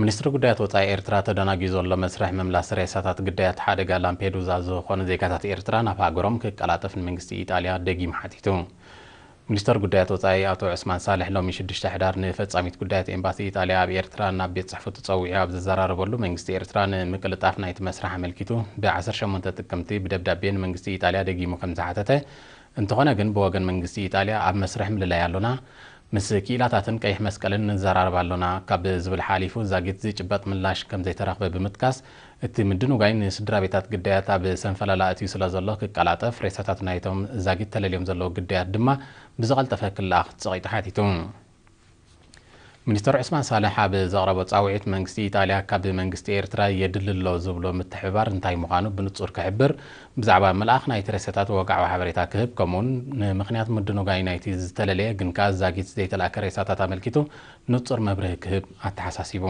ሚኒስትሪ ጉዳያት ወጻኢ ኤርትራ ተደናጊዩ ዘሎ መስርሕ ምምላስ ሬሳታት ግዳያት ሓደጋ ላምፔዱዛ ዝኾኑ ዜጋታት ኤርትራ ናብ ሃገሮም ክቀላጠፍ ንመንግስቲ ኢጣልያ ደጊሙ ሓቲቱ። ሚኒስተር ጉዳያት ወጻኢ ኣቶ ዑስማን ሳልሕ ሎሚ ሽዱሽተ ሕዳር ንፈጻሚት ጉዳያት ኤምባሲ ኢጣልያ ኣብ ኤርትራ ናብ ቤት ጽሕፈቱ ጸዊዑ ኣብ ዘዘራረበሉ መንግስቲ ኤርትራ ንምቅልጣፍ ናይቲ መስርሕ ኣመልኪቱ ብ ዓሰርተ ሸሞንተ ጥቅምቲ ብደብዳቤ ንመንግስቲ ኢጣልያ ደጊሙ ከምዝሓተተ እንተኾነ ግን ብወገን መንግስቲ ኢጣልያ ኣብ መስርሕ ምልላይ ኣሎና፣ ምስ ክኢላታትን ቀይሕ መስቀልን ንዘራረብ ኣሎና ካብ ዝብል ሓሊፉ ዛጊት ዝጭበጥ ምላሽ ከምዘይተረኽበ ብምጥቃስ እቲ ምድንጓይ ንስድራቤታት ግዳያት ኣብ ሰንፈላል ኣእትዩ ስለዘሎ ክቀላጠፍ ሬሳታት ናይቶም ዛጊት ተለልዮም ዘለዉ ግዳያት ድማ ብዝቐልጠፈ ክለኣኽ ጸቒጡ ሓቲቱ። ሚኒስተር ዑስማን ሳልሕ ኣብ ዘቕረቦ ጻውዒት፣ መንግስቲ ኢጣልያ ካብ መንግስቲ ኤርትራ የድሊ ኣሎ ዝብሎ ምትሕብባር እንታይ ምዃኑ ብንጹር ክሕብር፣ ብዛዕባ ምልኣኽ ናይቲ ሬሳታት ወግዓዊ ሓበሬታ ክህብ፣ ከምኡ'ውን ንምኽንያት ምድንጓይ ናይቲ ዝተለለየ ግን ከኣ ዛጊት ዘይተላእከ ሬሳታት ኣመልኪቱ ንጹር መብርሂ ክህብ ኣተሓሳሲቡ።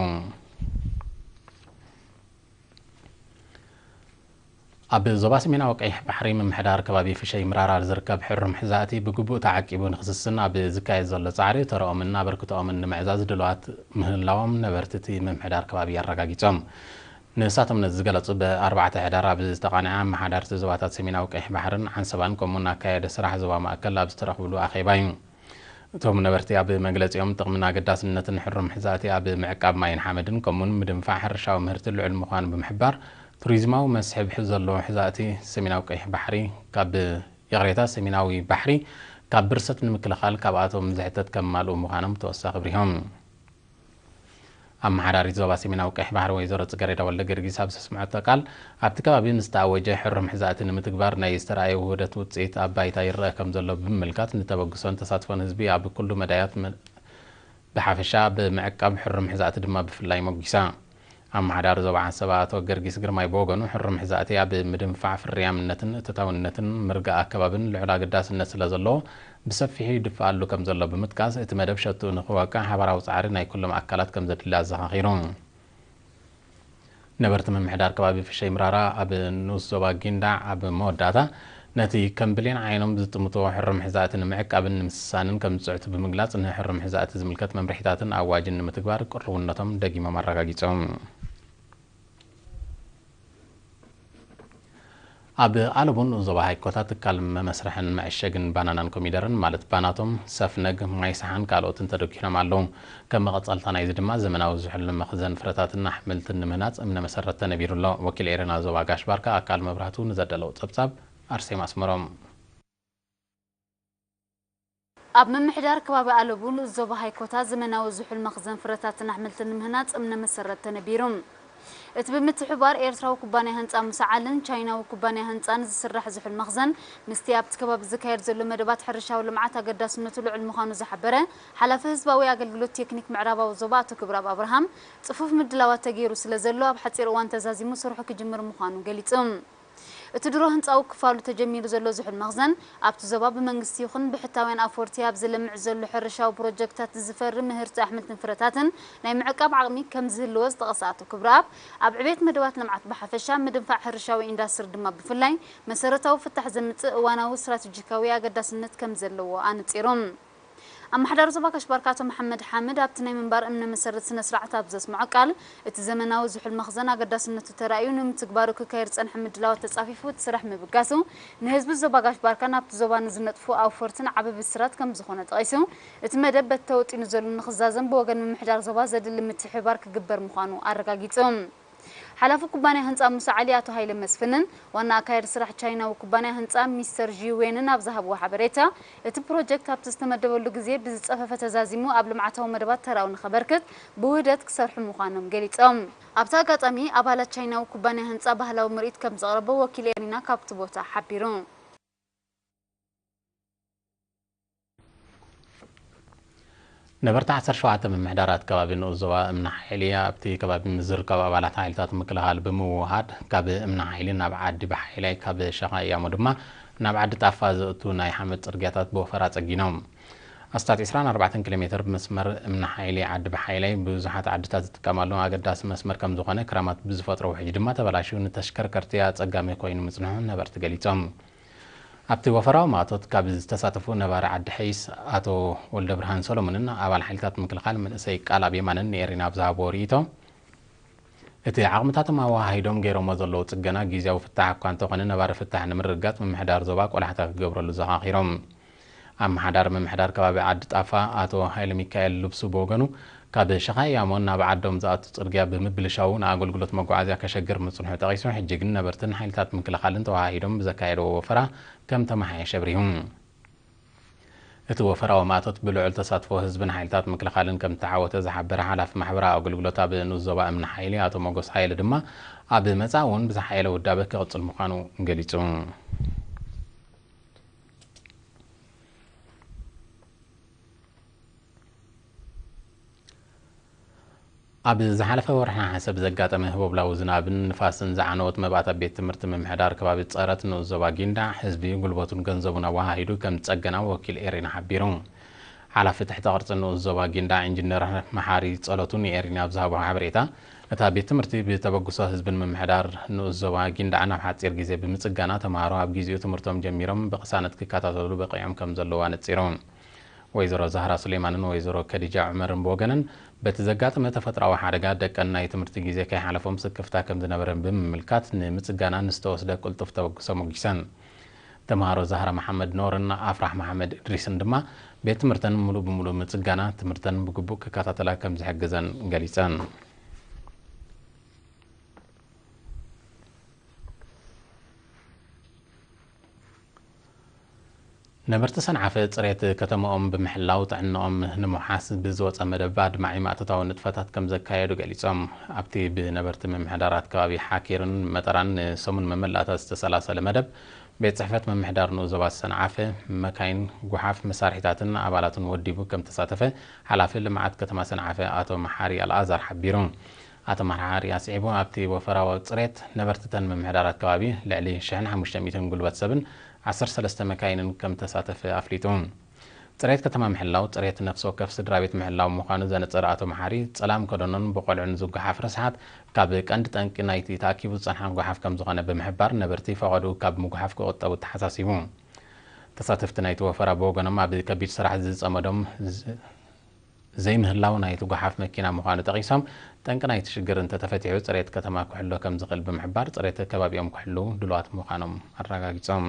ኣብ ዞባ ሰሜናዊ ቀይሕ ባሕሪ ምምሕዳር ከባቢ ፍሸይ ምራራር ዝርከብ ሕሩም ሕዛእቲ ብግቡእ ተዓቂቡ ንክስስን ኣብ ዝካየድ ዘሎ ፃዕሪ ተረኦምን ኣበርክተኦምን ንምዕዛዝ ድልዋት ምህላዎም ነበርቲ እቲ ምምሕዳር ከባቢ ኣረጋጊፆም። ንሳቶም ነዚ ዝገለፁ ብ ኣርባዕተ ሕዳር ኣብ ዝተቓነዐ ኣመሓዳርቲ ዞባታት ሰሜናዊ ቀይሕ ባሕርን ዓንሰባን ከምኡውን ኣካያዲ ስራሕ ዞባ ማእከል ኣብ ዝተረኽብሉ ኣኼባ እዩ። እቶም ነበርቲ ኣብ መግለፂኦም፣ ጥቕምን ኣገዳስነትን ሕሩም ሕዛእቲ ኣብ ምዕቃብ ማይን ሓመድን ከምኡውን ምድንፋዕ ሕርሻዊ ምህርቲ ልዑል ምዃኑ ብምሕባር፣ ቱሪዝማዊ መስሕብ ዘለዎ ሕዛእቲ ሰሜናዊ ቀይሕ ባሕሪ ካብ ይቕሬታ ሰሜናዊ ባሕሪ ካብ ብርሰት ንምክልኻል ካብኣቶም ዝሕተት ከማልኡ ምዃኖም ብተወሳኺ ኣብሪሆም። ኣመሓዳሪት ዞባ ሰሜናዊ ቀይሕ ባሕሪ ወይዘሮ ጽገሬዳ ወልደገርጊስ ኣብ ዘስምዐቶ ቃል፣ ኣብቲ ከባቢ ምስ ተኣወጀ ሕሩም ሕዛእቲ ንምትግባር ናይ ዝተርኣየ ውህደት ውጽኢት ኣብ ባይታ ይረኣ ከምዘሎ ብምምልካት ንተበግሶን ተሳትፎን ህዝቢ ኣብ ኩሉ መዳያት ብሓፈሻ ብምዕቃብ ሕሩም ሕዛእቲ ድማ ብፍላይ ሞጒሳ። ኣመሓዳሪ ዞባ ዓንሰባ ኣቶ ገርጊስ ግርማይ ብወገኑ፣ ሕሩም ሕዛእቲ ኣብ ምድንፋዕ ፍርያምነትን እቶታውነትን ምርጋእ ኣከባብን ልዑል ኣገዳስነት ስለዘለዎ ብሰፊሑ ይድፋኣሉ ከምዘሎ ብምጥቃስ፣ እቲ መደብ ሸትኡ ንኽወቅዕ ሓባራዊ ጻዕሪ ናይ ኩሎም ኣካላት ከምዘድሊ ኣዘኻኺሩ። ነበርቲ ምምሕዳር ከባቢ ፍሸይ ምራራ ኣብ ንኡስ ዞባ ጊንዳዕ ኣብ መወዳእታ ነቲ ከም ብሌን ዓይኖም ዝጥምትዎ ሕሩም ሕዛእቲ ንምዕቃብን ንምስሳንን ከም ዝፅዕቱ ብምግላፅ ንሕሩም ሕዛእቲ ዝምልከት መምርሒታትን ኣዋጅን ንምትግባር ቅሩብነቶም ደጊሞም ኣረጋጊፆም። ኣብ ኣለቡ ንኡስ ዞባ ሃይኮታ ትካል መመስርሕን መዐሸግን ባናናን ኮሚደረን ማለት ባናቶም፣ ሰፍነግ፣ ማይሰሓን ካልኦትን ተደኲኖም ኣለዉ። ከም መቐጸልታ ናይዚ ድማ ዘመናዊ ዝሑልን መኽዘን ፍረታትን ኣሕምልትን ንምህናጽ እምነ መሰረት ተነቢሩ ኣሎ። ወኪል ኤረና ዞባ ጋሽ ባርካ ኣካል መብራህቱ ንዘዳለዎ ጸብጻብ ኣርሴማ ኣስመሮም። ኣብ ምምሕዳር ከባቢ ኣለቡ ንኡስ ዞባ ሃይኮታ ዘመናዊ ዝሑል መኽዘን ፍረታትን ኣሕምልትን ንምህናጽ እምነ መሰረት ተነቢሩ። እቲ ብምትሕብባር ኤርትራዊ ኩባንያ ህንጻ ምሰዓልን ቻይናዊ ኩባንያ ህንጻን ዝስራሕ ዝሑል መኽዘን ምስቲ ኣብቲ ከባቢ ዝካየድ ዘሎ መደባት ሕርሻዊ ልምዓት ኣገዳስነቱ ልዑል ምዃኑ ዝሓበረ ሓላፊ ህዝባዊ ኣገልግሎት ቴክኒክ ምዕራባዊ ዞባ ኣቶ ክብረኣብ ኣብርሃም፣ ጽፉፍ ምድላዋት ተገይሩ ስለዘሎ ኣብ ሓጺር እዋን ተዛዚሙ ስርሑ ክጅምር ምዃኑ ገሊጹ። እቲ ድሮ ህንጻዊ ክፋሉ ተጀሚሩ ዘሎ ዝሑል መኽዘን፣ ኣብቲ ዞባ ብመንግስቲ ይኹን ብሕታውያን ኣፍወርቲ ኣብ ዝለምዕ ዘሎ ሕርሻዊ ፕሮጀክትታት ዝፈሪ ምህርቲ ኣሕምልትን ፍረታትን ናይ ምዕቃብ ዓቕሚ ከምዝህልዎ ዝጠቐሰ ኣቶ ክብረኣብ፣ ኣብ ዕቤት መደባት ልምዓት ብሓፈሻ ምድንፋዕ ሕርሻዊ ኢንዳስትሪ ድማ ብፍላይ መሰረታዊ ፍታሕ ዘምጽእ እዋናዊ ስትራቴጂካዊ ኣገዳስነት ከምዘለዎ ኣነጺሩ። ኣመሓዳሪ ዞባ ካሽባርካ ኣቶ መሓመድ ሓምድ ኣብቲ ናይ ምንባር እምነ መሰረት ስነ ስርዓት ኣብ ዘስመዖ ቃል፣ እቲ ዘመናዊ ዝሑል መኽዘን ኣገዳስነቱ ተራእዩ ንምትግባሩ ክካየድ ዝጸንሐ ምድላዋት ተጻፊፉ እቲ ስራሕ ምብጋሱ ንህዝቢ ዞባ ጋሽባርካን ኣብቲ ዞባ ንዝነጥፉ ኣውፈርትን ዓቢ ብስራት ከምዝኾነ ጠቒሱ እቲ መደብ በቲ ተወጢኑ ዘሎ ንኽዛዘም ብወገን ምምሕዳር ዞባ ዘድሊ ምትሕብባር ክግበር ምዃኑ ኣረጋጊጹ። ሓላፊ ኩባንያ ህንጻ ሙሳ ዓሊ ኣቶ ሃይለ መስፍንን ዋና ኣካያዲ ስራሕ ቻይናዊ ኩባንያ ህንጻ ሚስተር ዢ ዌንን ኣብ ዝሃብዎ ሓበሬታ፣ እቲ ፕሮጀክት ኣብቲ ዝተመደበሉ ግዜ ብዝጸፈፈ ተዛዚሙ ኣብ ልምዓታዊ መደባት ተራኡ ንኸበርክት ብውህደት ክሰርሑ ምዃኖም ገሊጾም። ኣብቲ ኣጋጣሚ፣ ኣባላት ቻይናዊ ኩባንያ ህንጻ ባህላዊ ምርኢት ከም ዘቕረቡ ወኪል ኤሪና ካብቲ ቦታ ሓቢሩ። ነበርቲ ዓሰርተ ሸውዓተ ምምሕዳራት ከባቢ ንኡስ ዞባ እምኒ ሓይሊ ኣብቲ ከባቢ ምስ ዝርከቡ ኣባላት ሓይልታት ምክልኻል ብምውህሃድ ካብ እምኒ ሓይሊ ናብ ዓዲ ብሓይላይ ካብ ሸኻ እያሞ ድማ ናብ ዓዲ ጣፋ ዘእቱ ናይ ሓመድ ጽርግያታት ብወፈራ ጸጊኖም። ኣስታት ዕስራን ኣርባዕተን ኪሎ ሜተር መስመር እምኒ ሓይሊ ዓዲ ብሓይላይ ብዙሓት ዓድታት ዝጥቀማሉ ኣገዳሲ መስመር ከም ዝኾነ ክራማት ብዝፈጥሮ ውሕጅ ድማ ተበላሽዩ ንተሽከርከርቲ ኣጸጋሚ ኮይኑ ምጽንሑ ነበርቲ ገሊጾም። ኣብቲ ወፈራዊ ማእቶት ካብ ዝተሳተፉ ነባሪ ዓዲ ሐይስ ኣቶ ወልደብርሃን ሰሎሞንን ኣባል ሓይልታት ምክልኻል መንእሰይ ቃልኣብ የማነን ንኤሪና ኣብ ዝሃብዎ ርኢቶ እቲ ዓቕምታቶም ኣወሃሂዶም ገይሮሞ ዘለዉ ፅገና ጊዚያዊ ፍታሕ እኳ እንተኾነ ነባሪ ፍታሕ ንምርግጋፅ ምምሕዳር ዞባ ቆላሕታ ክገብረሉ ዘኻኺሮም ኣመሓዳሪ ምምሕዳር ከባቢ ዓዲ ጣፋ ኣቶ ሃይለሚካኤል ልብሱ ብወገኑ፣ ካብ ሸኻ ኢያሞን ናብ ዓዶም ዝኣቱ ጽርግያ ብምብልሻዉ ንኣገልግሎት መጓዓዝያ ከሸግር ምጽንሑ ጠቒሱ፣ ሕጂ ግን ነበርትን ሓይልታት ምክልኻልን ተወሃሂዶም ብዘካየድዎ ወፈራ ከም ተመሓየሸ ኣብሪሁ። እቲ ወፈራዊ ማእቶት ብልዑል ተሳትፎ ህዝብን ሓይልታት ምክልኻልን ከም እተዓወተ ዝሓበረ ሓላፊ ማሕበራዊ ኣገልግሎት ኣብ ንኡስ ዞባ እምኒ ሓይሊ ኣቶ ሞጎስ ሃይለ ድማ፣ ኣብ መጻኢ'ውን ብዝሓየለ ውዳበ ክቕጽል ምዃኑ ገሊጹ። ኣብ ዝሓለፈ ወርሒ ነሓሰ ብዘጋጠመ ህቦብላዊ ዝናብን ንፋስን ዝዓነወት መባእታ ቤት ትምህርቲ ምምሕዳር ከባቢ ፀረት ንኡስ ዞባ ጊንዳዕ ህዝቢ ጉልበቱን ገንዘቡን ኣወሃሂዱ ከም ዝፀገና ወኪል ኤሪና ሓቢሩ። ሓላፊ ትሕተ ቅርፂ ንኡስ ዞባ ጊንዳዕ ኢንጂነር መሓሪ ፀሎቱ ንኤሪና ኣብ ዝሃቦ ሓበሬታ እታ ቤት ትምህርቲ ብተበግሶ ህዝብን ምምሕዳር ንኡስ ዞባ ጊንዳዕ ናብ ሓጺር ግዜ ብምጽጋና ተመሃሮ ኣብ ጊዚኡ ትምህርቶም ጀሚሮም ብቕሳነት ክከታተሉ በቒዖም ከምዘለዉ ኣነጺሩ። ወይዘሮ ዛህራ ሱሌማንን ወይዘሮ ከዲጃ ዑመርን ብወገነን በቲ ዘጋጠመ ተፈጥሮኣዊ ሓደጋ ደቀን ናይ ትምህርቲ ግዜ ከይሓለፎም ስክፍታ ከምዝነበረን ብምምልካት ንምጽጋና ንዝተወስደ ቅልጡፍ ተበግሶ ሞጊሰን። ተምሃሮ ዛህራ መሓመድ ኖርን ኣፍራህ መሓመድ እድሪስን ድማ ቤት ትምህርተን ሙሉእ ብሙሉእ ምፅጋና ትምህርተን ብግቡእ ክከታተላ ከምዝሕግዘን ገሊፀን። ነበርቲ ሰንዓፈ ፅሬት ከተመኦም ብምሕላው ጥዕነኦም ንምውሓስ ብዝወፀ መደብ ኣድማዒ ማእቶታዊ ንጥፈታት ከምዘካየዱ ገሊፆም። ኣብቲ ብነበርቲ ምምሕዳራት ከባቢ ሓኪርን መጠራን ንሰሙን መመላእታ ዝተሰላሰለ መደብ፣ ቤት ጽሕፈት ምምሕዳር ንኡስ ዞባ ሰንዓፈ፣ መካይን፣ ጉሓፍ፣ መሳርሒታትን ኣባላቱን ወዲቡ ከምተሳተፈ ሓላፊ ልምዓት ከተማ ሰንዓፈ ኣቶ መሓሪ ኣልኣዛር ሓቢሩ። ኣቶ መሓሪ ኣስዒቡ፣ ኣብቲ ወፈራዊ ጽሬት፣ ነበርቲ ተን ምምሕዳራት ከባቢ፣ ልዕሊ ሽሕን ሓሙሽተ ሚእትን ጉልበት ሰብን ዓሰርተ ሰለስተ መካይንን ከምተሳተፈ ኣፍሊጡ። ፅሬት ከተማ ምሕላው ፅሬት ነፍሲ ወከፍ ስድራቤት ምሕላው ምዃኑ ዘነፀረ ኣቶ መሓሪ፣ ፀላም ከደኖን ብቆልዑ ንዝጓሓፍ ርስሓት ካብ ቀንዲ ጠንቂ ናይቲ ተኣኪቡ ዝፀንሓ ጓሓፍ ከምዝኾነ ብምሕባር ነበርቲ ፈቐድኡ ካብ ምጉሓፍ ክቑጠቡ ኣተሓሳሲቡ። ተሳተፍቲ ናይቲ ወፈራ ብወገኖም ኣብ ከቢድ ስራሕ ዝፀመዶም ዘይምህላው ናይቲ ጓሓፍ መኪና ምዃኑ ጠቒሶም ጠንቂ ናይቲ ሽግር እንተተፈቲሑ ፅሬት ከተማ ክሕሎ ከምዝኽእል ብምሕባር ፅሬት ከባቢኦም ክሕልው ድሉዋት ምዃኖም ኣረጋጊፆም።